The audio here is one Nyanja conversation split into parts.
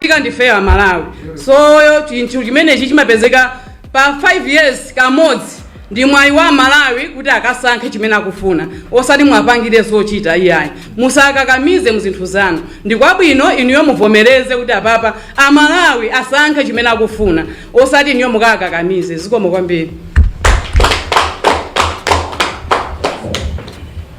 tika ndife amalawi soyo chinthu chimenechi chimapezeka pa 5 years kamodzi ndi mwayi wa amalawi kuti akasankhe chimene akufuna osati mwapangire zochita iyayi musakakamize muzinthu zanu ndi kwabwino inuyo muvomereze kuti apapa amalawi asankhe chimene akufuna osati inuyo mukakakamize zikomo kwambiri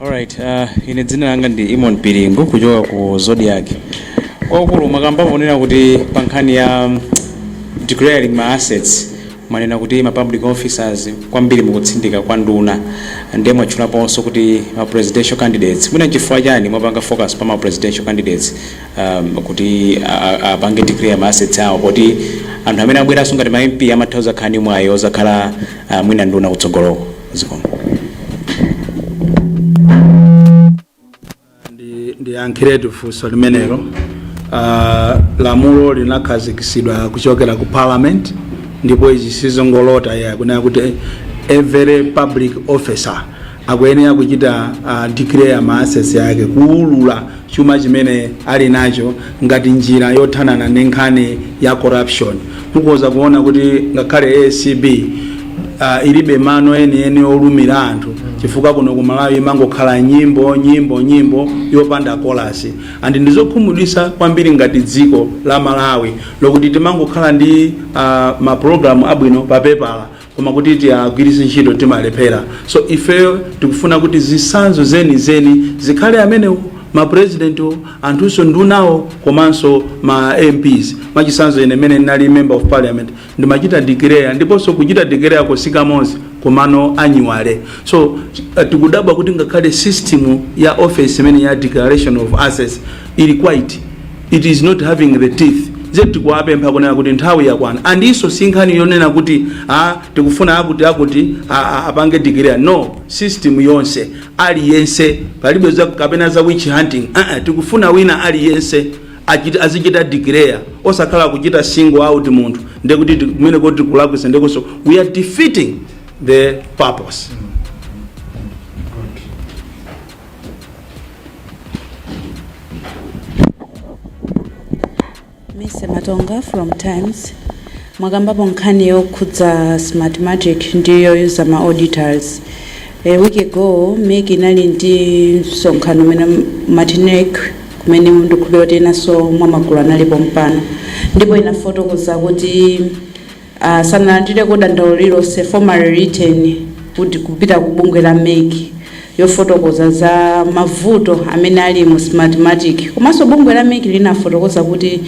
Alright, uh, ine dzina langa ndi Imon Piringu kuchoka ku Zodiak. Kwakulu mwakamba ponena kuti pa nkhani ya mm, declaring ma assets mwanena kuti ma public officers kwambiri mukutsindika kwa nduna ndiye mwatchulaponso kuti ma presidential candidates mwina chifukwa chani mwapanga focus pa ma presidential candidates um, kuti a- a- apange declare ma assets awo poti anthu amene abweranso ngati ma MP amatha kuzakhala ndi mwayi ozakhala uh, mwina nduna kutsogoloko ndiyankhiretu funso limenelo uh, lamulo linakhazikisidwa kuchokera ku parliament ndipo izi sizongolota akunena kuti every public officer akuyenera kuchita uh, declare ma assets yake kuulula chuma chimene ali nacho ngati njira yothanana ndi nkhani ya corruption. Mukhoza kuona kuti ngakhale ACB uh, ilibe mano enieni olumira anthu chifukwa kuno ku Malawi imangokhala nyimbo nyimbo nyimbo yopanda kolasi and ndizokhumudwisa kwambiri ngati dziko la Malawi lokuti timangokhala ndi uh, mapulogalamu abwino pa pepala koma kuti tiagwiritse ntchito timalephera so ifeyo tikufuna kuti zisanzo zeni zeni zikhale amenewo ma presidentwo anthunso ndunawo komanso ma mps mwachisanzo ine mene ndinali member of parliament ndimachita declare ndiponso kuchita declare kosati kamodzi komano annually so uh, tikudabwa kuti ngakhale system ya office imene ya declaration of assets ili quiet it is not having the teeth nde tikuwapempha kunena kuti nthawi yakwana andinso si nkhani yonena kuti a tikufuna akuti akuti a- a- apange declare no system yonse aliyense palibe za- kapena za witch hunting uh -uh, tikufuna wina aliyense achiti- azichita declare osakhala kuchita single out munthu ndekuti ti- kumene kuti tikulakwisa ndekuso we are defeating the purpose mise matonga from times mwakambapo nkhani yokhudza smartmatic ndi yoyuza ma auditors a week ago mec inali ndi msonkhano umene mwachita attend kumene ndikukhulupira kuti enanso mwa magulu ali pompano ndipo inafotokoza kuti sanalandireko dandaulo lililonse, formal written, kud kupita ku bungwe la mec yofotokoza za mavuto amene ali mu Smartmatic komanso bungwe la mec linafotokoza kuti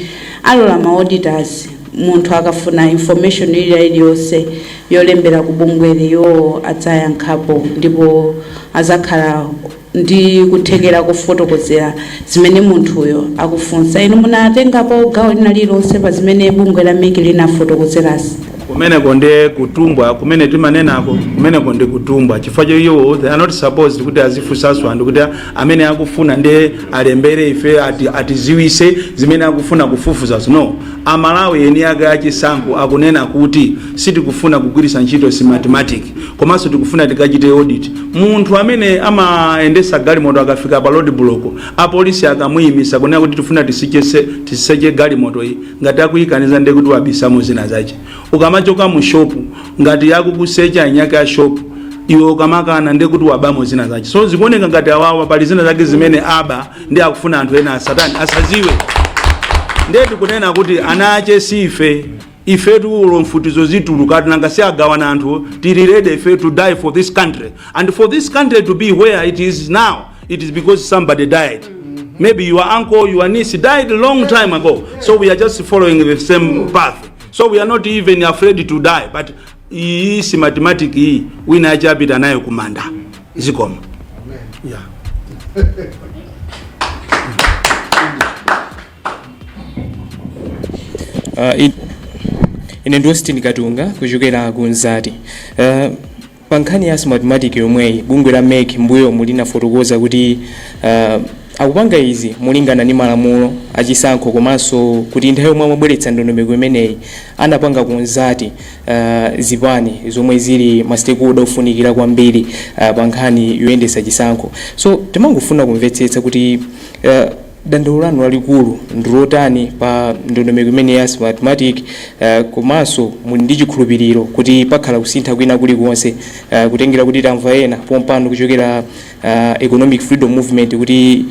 alola ma auditors munthu akafuna information ilila iliyonse yolembera ku bungweli iwowo adzayankhapo ndipo azakhala ndi kuthekera kofotokozera zimene munthuyo akufunsa. Inu munatengapo gawo lina lililonse pa zimene bungwe la mec linafotokozerazi? kumeneko nde kutumbwa kumene timanenako kumeneko ndi kutumbwa chifukwa cho iwo they are not supposed kuti azifunsanso anthu kuti amene akufuna nde alembere ife ati, atiziwise zimene akufuna kufufuzazo no amalawi eni ake achisankho akunena kuti sitikufuna kugwiritsa ntchito Smartmatic komanso tikufuna tikachite audit Munthu amene amayendesa galimoto akafika pa road block apolisi akamuyimisa kunena kuti tifuna tisichese, tiseche galimoto iyi ngati akuyikaniza ndiye kuti wabisamo zina zache. Ukamachoka mu shop ngati akukusecha eni ake a shop iwe ukamakana ndiye kuti wabamo zina zache. So zikuoneka ngati awawa pali zina zake zimene aba ndiye akufuna anthu ena asatani asaziwe. Ndiye tikunena kuti ana ache si ife. ifetu olo mfutizo zitulukat nanga si agawana anthuwo tili ready ife to die for this country and for this country to be where it is now it is because somebody died maybe your uncle your niece died long time ago so we are just following the same path so we are not even afraid to die but iyi si mathematic iyi wina achapita nayo kumanda zikomo yeah. Uh, in, ine ndi Austin Katunga kuchokera ku Mzati. Uh, pa nkhani ya smartmatic yomweyi bungwe la mec mbuyomu linafotokoza kuti uh, akupanga izi molingana ndi malamulo achisankho komanso kuti nthawi yomwe amabweretsa ndondomeko imeneyi anapanga consult uh, zipani zomwe zili ma stakeholder ofunikira kwambiri uh, pa nkhani yoyendesa chisankho so timangofuna kumvetsetsa kuti uh, dandaulo lanu lalikulu ndi lotani pa ndondomeko imeneyi ya Smartmatic komanso muli ndi chikhulupiriro kuti pakhala kusintha kwina kulikonse kutengera kuti tamva ena pompano kuchokera Economic Freedom Movement kuti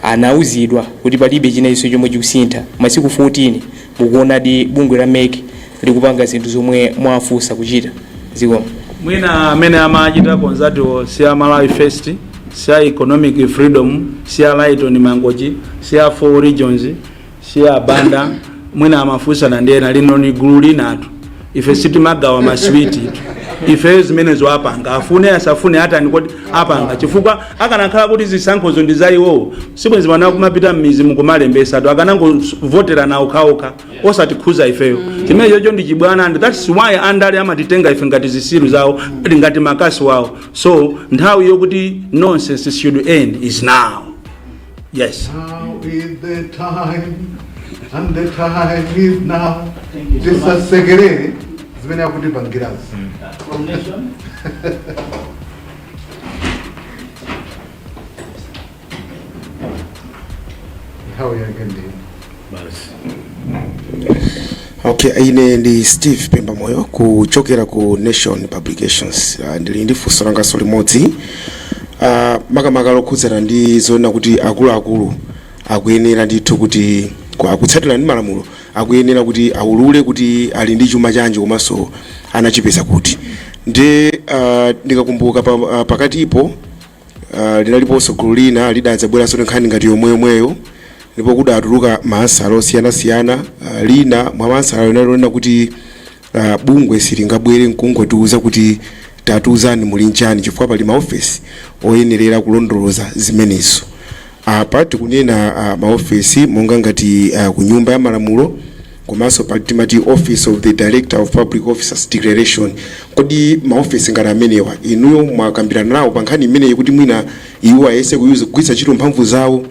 anauzidwa kuti palibe chinachonse chomwe chikusintha masiku 14 Mukuonadi bungwe la mec likupanga zinthu zomwe mwawafunsa kuchita? Zikomo. Mwina amene amachita consult-wo si a Malawi First, si a Economic Freedom, si a Lyton Mangochi, si a Four Regions, si a Banda, mwina amafunsana ndi ena, lino ni gulu linatu. ife sitimagawa maswiti ifeyo zimenezo apanga afune asafune atani kodi apanga chifukwa akanakhala kuti zisankhozo ndi za iwowo sibwenzi pano akumapita mmizimu kumalembesa anthu akanangovoterana okhaokha osatikhuza ifeyo chimenechocho ndi chibwana and that's why andale amatitenga ife ngati zisiru zawo ngati makasi wawo so nthawi yokuti nonsense should end is now Yes. Now is the time and the time is now. Tisasekerere zimene akutipangirazi. Coronation. Nthawi yake ndi Okay, ine ndi Steve Pemba Moyo kuchokera ku Nation Publications. Uh, ndili ndi funso langaso limodzi uh, makamaka lokhudzana ndi zoona kuti akuluakulu akuyenera ndithu kuti ku- akutsatira ndi malamulo akuyenera kuti aulule kuti ali ndi chuma chanji komanso anachipeza kuti ndi uh, ndikakumbuka pa, uh, pakatipo Uh, linaliponso gulu lina lidadzabweranso ndi nkhani ngati yomweyomweyo ndipo kudatuluka maansala osiyanasiyana uh, lina mwa maansala linali lonena kuti uh, bungwe silingabwere nkungotiuza kuti tatiuzani muli nchani chifukwa pali maofesi oyenerera kulondoloza zimenezo apa tikunena uh, maofesi monga ngati uh, ku nyumba ya malamulo komanso pa timati office of the director of public officers declaration kodi maofesi ngati amenewa inuyo mwakambirana nawo pa nkhani imeneyi kuti mwina iwo ayese kuyuza kugwiritsa ntchito mphamvu zawo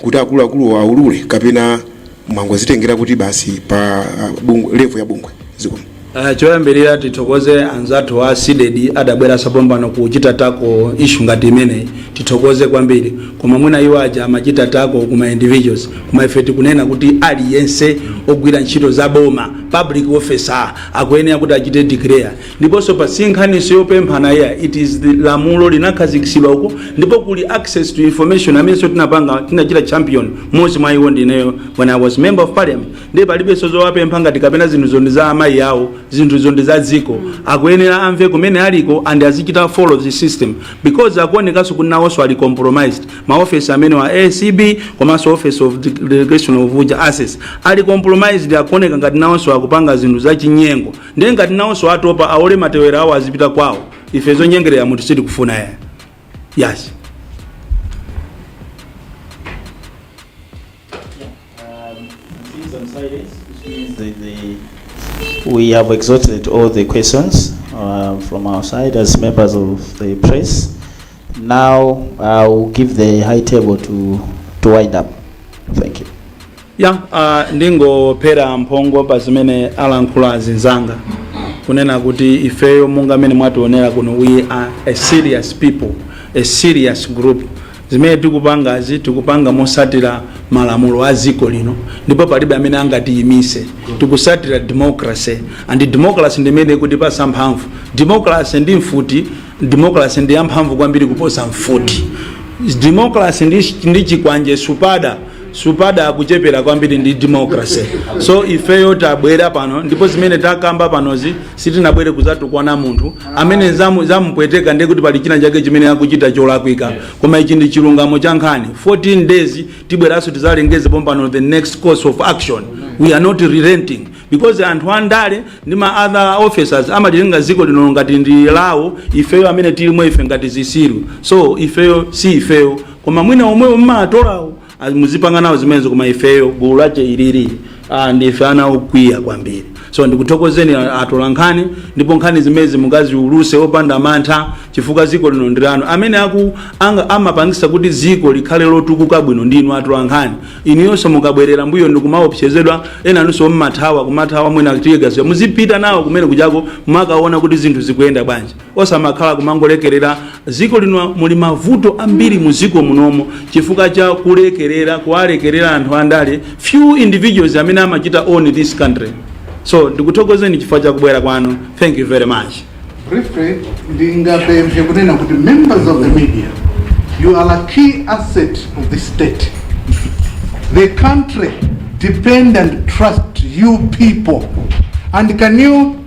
kuti akuluakulu aulule kapena mwangozitengera kuti basi pa ah, bungwe- level ya bungwe zikomo Uh, choyambirira tithokoze anzathu a CDEDI adabweranso pompano kuchita tackle issue ngati imeneyi tithokoze kwambiri koma mwina iwo aja amachita tackle kuma individuals koma ife tikunena kuti aliyense ogwira ntchito za boma public officer akuyenera kuti achite declare ndiponso apa sinkhaninso yopemphana iyayi it is the lamulo linakhazikitsidwa uko ndipo kuli access to information amenenso tinapanga tinachita champion mmodzi mwa iwo ndineyo when i was member of parliament ndiye palibenso zowapempha ngati kapena zinthuzo ndi za amayi awo zinthuzo ndi za dziko akuyenera amve kumene aliko and azichita follow the system because akuonekanso kuti nawonso ali compromised maofesi amenewa acb komanso office of the declaration of uja assets ali compromised akuoneka ngati nawonso akupanga zinthu za chinyengo ndiye ngati nawonso atopa aole matewera awo azipita kwawo ife zonyengerera munthu sitikufuna iyayi yes We have exhausted all the questions uh, from our side as members of the press. Now I will give the high table to, to wind up. Thank you. ya uh, ndingophera mphongo pa zimene alankhula azinzanga kunena kuti ifeyo monga mmene mwationera kuno we are a serious people a serious group Zimene tikupangazi tikupanga mosatira malamulo a dziko lino ndipo palibe amene angatiyimise tikusatira democracy and democracy ndimene ikutipasa mphamvu democracy ndi mfuti democracy ndiyamphamvu kwambiri kuposa mfuti democracy ndi chikwanje supada supada akuchepera kwambiri ndi democracy so ifeyo tabwera pano ndipo zimene takamba panozi sitinabwere kuzatukwana munthu amene zamu- zamupweteka ndiye kuti pali china chake chimene akuchita cholakwika koma ichi ndi chilungamo cha nkhani 14 days tibweranso tizalengeze pompano the next course of action we are not relenting because anthu andale ndi ma other officers amalitenga dziko lino ngati ndi lawo ifeyo amene tilimo ife ngati zisiru so ifeyo si ifeyo koma mwina omwewo mmaatolawo ah, muzipanga nawo zimenezo koma ifeyo gulu lache ilili ah, ndife ana okwiya kwambiri so ndikuthokozeni a- atola nkhani ndipo nkhani zimezi mukaziuluse opanda mantha chifukwa ziko lino ndi lanu amene amapangisa kuti ziko likhale lotukuka bwino ndinu atola nkhani inuyonso mukabwerera mbuyo ndikumaopsezedwa enanunso mmathawa kumathawa mwina tiyegaziwa muzipita nawo kumene kujako mumakaona kuti zinthu zikuyenda bwanji osamakhala kumangolekerera ziko lino muli mavuto ambiri mu ziko munomo chifukwa cha kulekerera kuwalekerera anthu andale few individuals amene amachita own this country so ndikuthokozeni chifukwa cha kubwera kwanu thank you very much briefly ndingapemphe kunena kuti members of the media you are a key asset of the state the country depend and trust you people and can you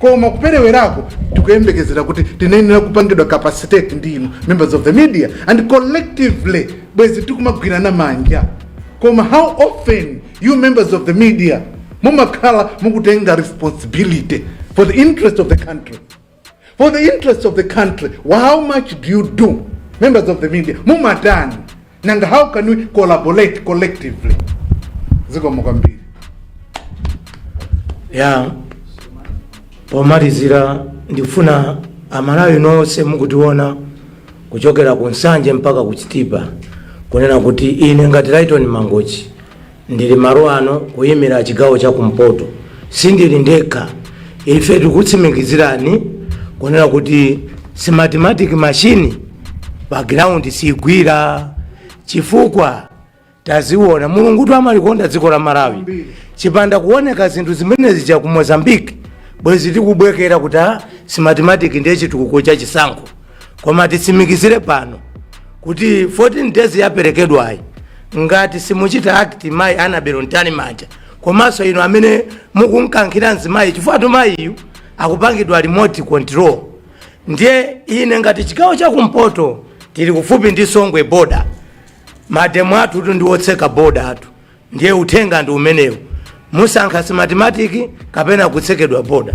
Koma kuperewerako tikuyembekezera kuti tinayenera kupangidwa capacitate ndi inu members of the media and collectively bwezi tikumagwirana manja koma how often you members of the media mumakhala mukutenga responsibility for the interest of the country for the interest of the country how much do you do members of the media mumatani and how can we collaborate collectively zikomo kwambiri ya pomalizira ndifuna amalawi nonse mukutiona kuchokera ku nsanje mpaka ku chitipa kunena kuti ine ngati laiton mangochi Ndili malo ano kuyimira chigawo cha kumpoto. Sindili ndekha. Ife tikutsimikizirani kunena kuti smartmatic machine pa ground sigwira chifukwa taziona mulungutu amalikonda dziko la malawi chipanda kuoneka zinthu zimene zija ku mozambique bwezi tikubwekera kuti a smartmatic ndiye chitukuko cha chisankho koma titsimikizire pano kuti 14 days yaperekedwayi ngati simuchita act mayi anabel mtalimanja komanso inu amene mukunkankhira mzimayi chifukwatu mayiyu akupangidwa remote control ndiye ine ngati chigawo chakumpoto tili kufupi ndi songwe border mademo athutu ndiwotseka border athu ndiye uthenga ndi umenewu musankha smartmatic kapena kutsekedwa border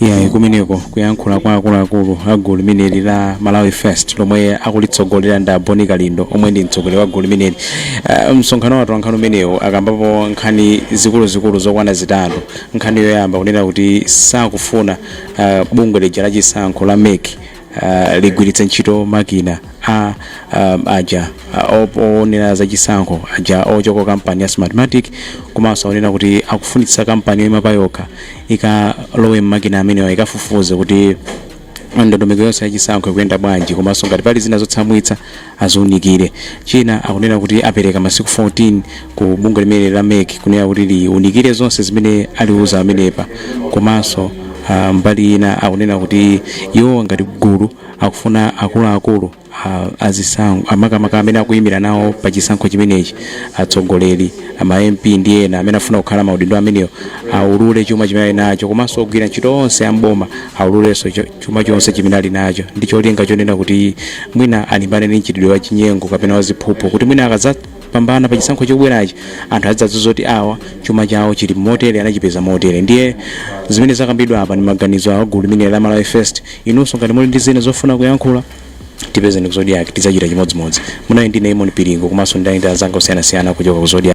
Iyayi, kumeneko kuyankhula kwa akuluakulu a gulu limeneli la Malawi First lomwe akulitsogolera ndi Boni Kalindo omwe ndi mtsogoleri wa gulu limeneli. Uh, msonkhano wa atolankhani umenewu akambapo nkhani zikuluzikulu zokwana zitatu. Nkhani yoyamba kunena kuti sakufuna uh, bungwe lija la chisankho la MEC uh, ligwiritse ntchito makina a um, aja uh, oonera za chisankho aja ochoka ku kampani ya smartmatic komanso anena kuti akufunitsitsa kampani yoima payokha ikalowe mmakina amenewa ikafufuze kuti ndondomeko yonse ya chisankho ikuyenda bwanji komanso ngati pali zina zotsamwitsa aziunikire. China akunena kuti apereka masiku 14 ku bungwe limeneli la mec kunena kuti liunikire zonse zimene aliuza pamenepa komanso mbali ina akunena kuti iwowa ngati gulu akufuna akuluakulu a zisankho makamaka amene akuimira nawo pa chisankho chimenechi, atsogoleri, ma MP ndi ena amene akufuna kukhala maudindo amenewa aulule chuma chimene ali nacho komanso ogwira ntchito onse a m'boma aululenso chuma chonse chimene ali nacho ndi cholinga chonena kuti mwina alimbane ndi mchitidwe wa chinyengo kapena wa ziphuphu kuti mwina akadzapambana pa chisankho chobwerachi anthu adzadziwa kuti awa chuma chawo chili motere anachipeza motere ndiye zimene zakambidwa apa ndi maganizo a gulu limeneli la malawi first inunso ngati muli ndi zina zofuna kuyankhula tipezeni ku zodiak tidzachita chimodzimodzi munali ndine imon piringo komanso ndinali ndi anzanga osiyanasiyana kuchoka ku zodiak